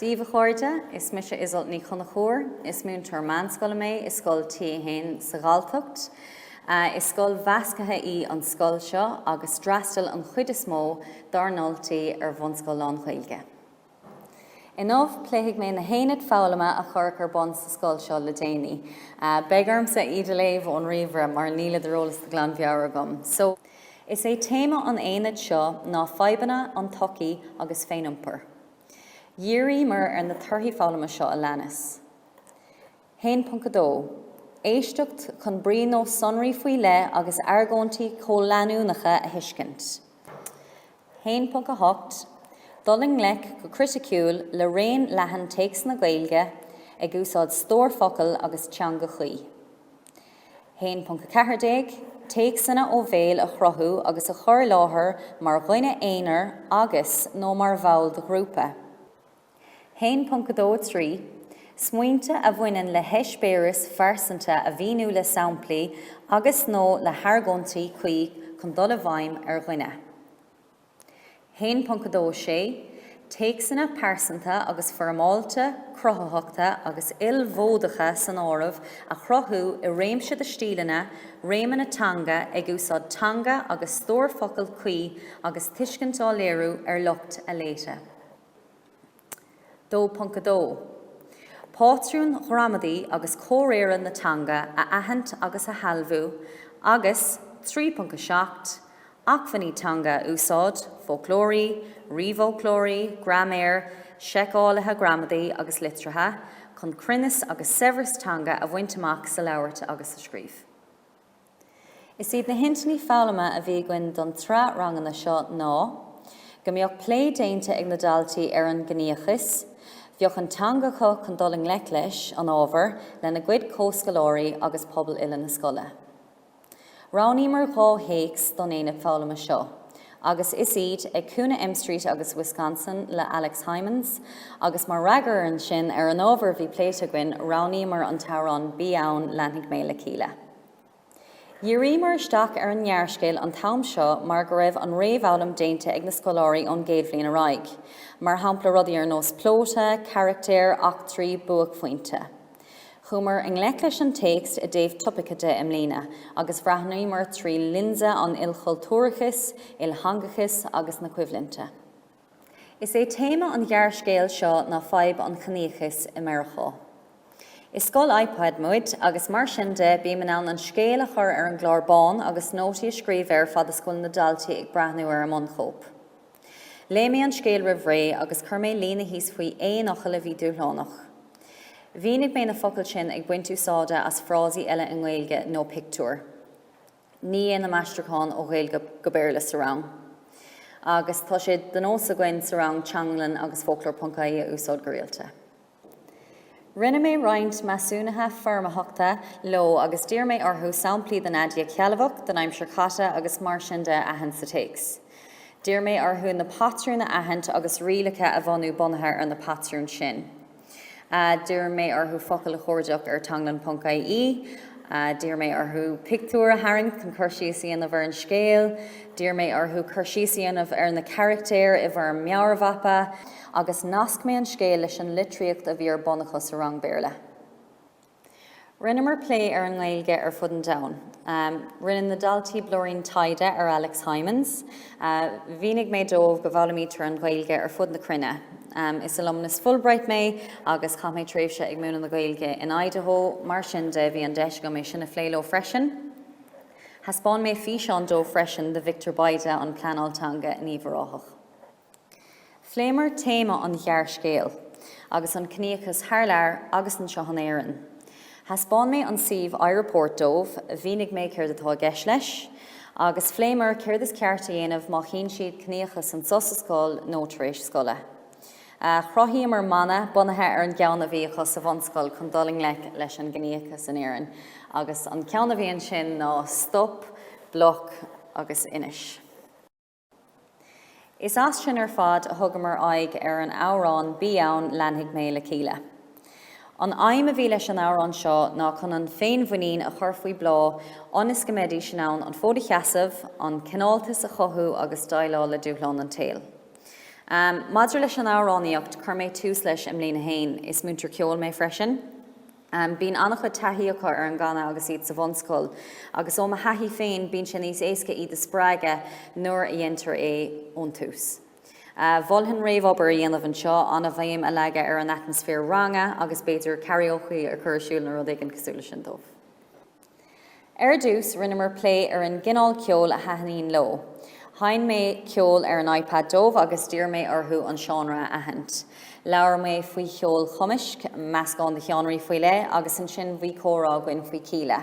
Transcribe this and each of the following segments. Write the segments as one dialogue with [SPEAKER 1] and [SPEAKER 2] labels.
[SPEAKER 1] Dia daoibh a chairde, is mise Iseult Ní Chonchúir. Is múinteoir meánscoile mé i scoil T1 sa Ghalltacht. Is scoil mheasctha í an scoil seo agus d'fhreastail an chuid is mó dár ndaltaí ar bhunscoil lán-Ghaeilge. Inniu, pléfidh mé na haonaid foghlama a cuireadh ar bun sa scoil seo le déanaí. Beidh ormsa iad a léamh ón ríomhaire mar nílid ar eolas de ghlanmheabhair agam. Is é téama an aonaid seo ná fadhbanna na sochaí agus féiniompar. Dhíríomar ar na torthaí foghlama seo a leanas, 1.2 Éisteacht chun brí nó sonraí faoi leith agus argóintí comhleanúnacha a thuiscint, 1.8 Dul i ngleic go criticiúil le raon leathan téacsanna Gaeilge ag úsáid stór focal agus teanga chuí, 1.14 Téacsanna ó bhéal a chruthú agus a chur i láthair mar dhuine aonair agus, nó mar bhall de ghrúpa. 1.23 Smaointe a bhaineann le heispéiris phearsanta a mhíniú le samplaí agus, nó le hargóintí cuí chun dul i bhfeidhm ar dhuine. 1.26 Téacsanna pearsanta agus foirmeáilte, cruthaitheacha agus ilmhódacha san áireamh, a chruthú i réimse de stíleanna, réimeanna teanga, ag úsáid teanga agus stór focal cuí agus tuiscint á léiriú ar lucht a léite. 2.2. Patrúin ghramadaí agus comhréire na teanga a aithint agus a shealbhú agus, 3.7. Acmhainní teanga a úsáid, foclóirí, ríomhfhoclóirí, graiméir, seiceálaithe gramadaí agus litrithe, chun cruinneas agus saibhreas teanga a bhaint amach sa labhairt agus sa scríobh. Is iad na hintinní foghlama a bhí againn don tsraith ranganna seo ná, Go mbeadh plé déanta ag na daltaí ar an gciníochas, Bheadh an teanga acu chun dul i ngleic leis an ábhar lena gcuid comhscoláirí agus pobal uile na scoile. Roghnaíomar dhá théacs don aonad foghlama seo agus is iad, Ag Cúinne M Street agus Wisconsin le Alex Hijmans, agus mar fhreagra ansin ar an ábhar a bhí pléite againn roghnaíomar an t-amhrán Bí Ann, Leanfaidh Mé le Kíla. Dhíríomar isteach ar an ngearrscéal an t-am seo mar go raibh an réamhfhoghlaim déanta ag na scoláirí ón gcéad bhliain ar aghaidh, mar shampla rudaí ar nós plóta, carachtair, eachtraí, buaicphointe. Chuamar i ngleic leis an téacs i dtaobh topaice de i mbliana agus bhreathnaíomar trí lionsa an ilchultúrachais, iltheangachais agus na coimhlinte. Is é téama an ghearrscéil seo ná fadhb an chiníochais i Meiriceá. Is scoil iPad muid agus mar sin de bím in ann an scéal a chur ar an gclár bán agus nótaí a scríobh air fad is go bhfuil na daltaí ag breathnú ar an mbunchóip. Léigh mé an scéal roimh ré agus chuir mé líne thíos faoi aon fhocal a bhí dúshlánach. Mhínigh mé na focail sin ag baint úsáide as frásaí eile i nGaeilge nó pictiúir. Ní dhéanaim aistriúchán ó Ghaeilge go Béarla sa rang agus tá sé de nós againn sa rang Teanglann agus Foclóir.ie a úsáid go rialta. Rinne mé roinnt measúnaithe foirmitheachta leo agus d'iarr mé orthu samplaí den aidiacht shealbhach, den aimsir chaite agus mar sin de a aithint sa téacs. D'iarr mé orthu na patrúin a aithint agus rialacha a bhunú bunaithe ar na patrúin sin. D'iarr mé orthu focail a chuardach ar Teanglann ponc IE. D'iarr mé orthu pictiúir a tharraingt chun cur síos a dhéanamh ar an scéal. D'iarr mé orthu cur síos a dhéanamh ar na carachtair i bhfoirm meabhairmhapa. Agus nasc mé an scéal leis an litríocht a bhí ar bun acu sa rang Béarla. Rinneamar plé ar an nGaeilge ar fud an domhain. Rinne na daltaí blúirín taighde ar Alex Hijmans. Mhínigh mé dóibh go bhfoghlaimítear an Ghaeilge ar fud na cruinne. Is alumnus Fulbright mé agus chaith mé tréimhse ag múineadh na Gaeilge in Idaho, mar sin de bhí an deis agam é sin a phlé leo freisin. Thaispeáin mé físeán dóibh freisin de Victor Bayda, an pleanálaí teanga in Uíbh Ráthach. Phléamar téama an ghearrscéil agus an ciníochas thar lear agus anseo in Éirinn. Thaispeáin mé an suíomh iReport dóibh, mhínigh mé céard atá i gceist leis, agus phléamar céard is ceart a dhéanamh má chíonn siad ciníochas anseo sa scoil nó tar éis scoile. Chruthaíomar mana bunaithe ar an gceann a bhí acu sa bhunscoil chun dul i ngleic leis an gciníochas in Éirinn, agus an ceann a bhí ansin ná 'Stop, Bloc agus Inis'. Is as sin ar fad a thugamar aghaidh ar an amhrán Bí Ann, Leanfaidh Mé le Kíla. An aidhm a bhí leis an amhrán seo ná chun an féinmhuinín a chur faoi bhláth ionas go mbeidís in ann an fód a sheasamh, an cineáltas a chothú agus déileáil le dúshláin an tsaoil. Maidir leis an amhránaíocht, chuir mé tús leis i mbliain a haon, is múinteoir ceoil mé freisin, Em, bíonn an-chuid taithí acu ar an gcanadh agus iad sa bhunscoil agus ó mo thaithí féin, bíonn sé níos éasca iad a spreagadh nuair a dheintear é ón tús. A, mholfainn réamhobair a dhéanamh anseo, an-bhéim a leagan ar an atmaisféar ranga agus b'fhéidir karaoke a chur ar siúl nó rud éigin cosúil leis sin dóibh. Ar dtús, rinneamar plé ar an gcineál ceoil a thaitníonn leo. Sheinn mé ceol ar an iPad dóibh agus d'iarr mé orthu an seánra a aithint. Labhair mé faoi cheol chumaisc, meascán de sheánraí faoi leith agus ansin bhí comhrá againn faoi Kíla.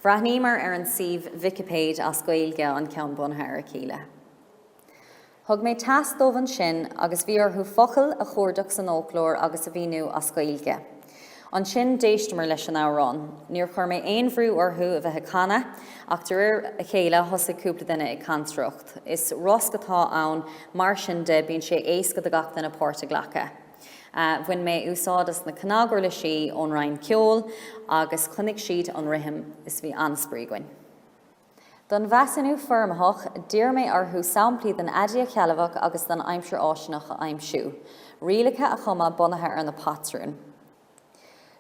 [SPEAKER 1] Bhreathnaíomar ar an suíomh Vicipéid as Gaeilge, an ceann bunaithe ar Kíla. Thug mé tasc dóibh ansin agus bhí orthu focail a chuardach san fhóclóir agus a mhíniú as Gaeilge. Ansin d'éisteamar leis an amhrán. Níor chuir mé aon bhrú orthu a bheith ag canadh ach de réir a chéile thosaigh cúpla duine ag cantaireacht. Is rosc atá ann mar sin de bíonn sé éasca do gach duine páirt a ghlacadh. Bhain mé úsáid as na cnaguirlisí ón roinn ceoil agus choinnigh siad an rithim is bhí an-spraoi againn. Don mheasúnú foirmitheach, d'iarr mé orthu samplaí den aidiacht shealbhach agus den aimsir fháistineach a aimsiú, rialacha a chumadh bunaithe ar na patrúin.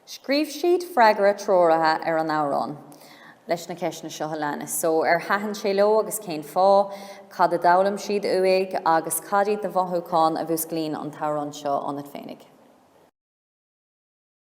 [SPEAKER 1] Scríobh siad freagra treoraithe ar an amhrán, leis na ceisteanna seo a leanas, so, ar thaitin sé leo agus cén fáth, cad a d'fhoghlaim siad uaidh agus cad iad na mothúcháin a mhúsclaíonn an t-amhrán seo ionat féinig.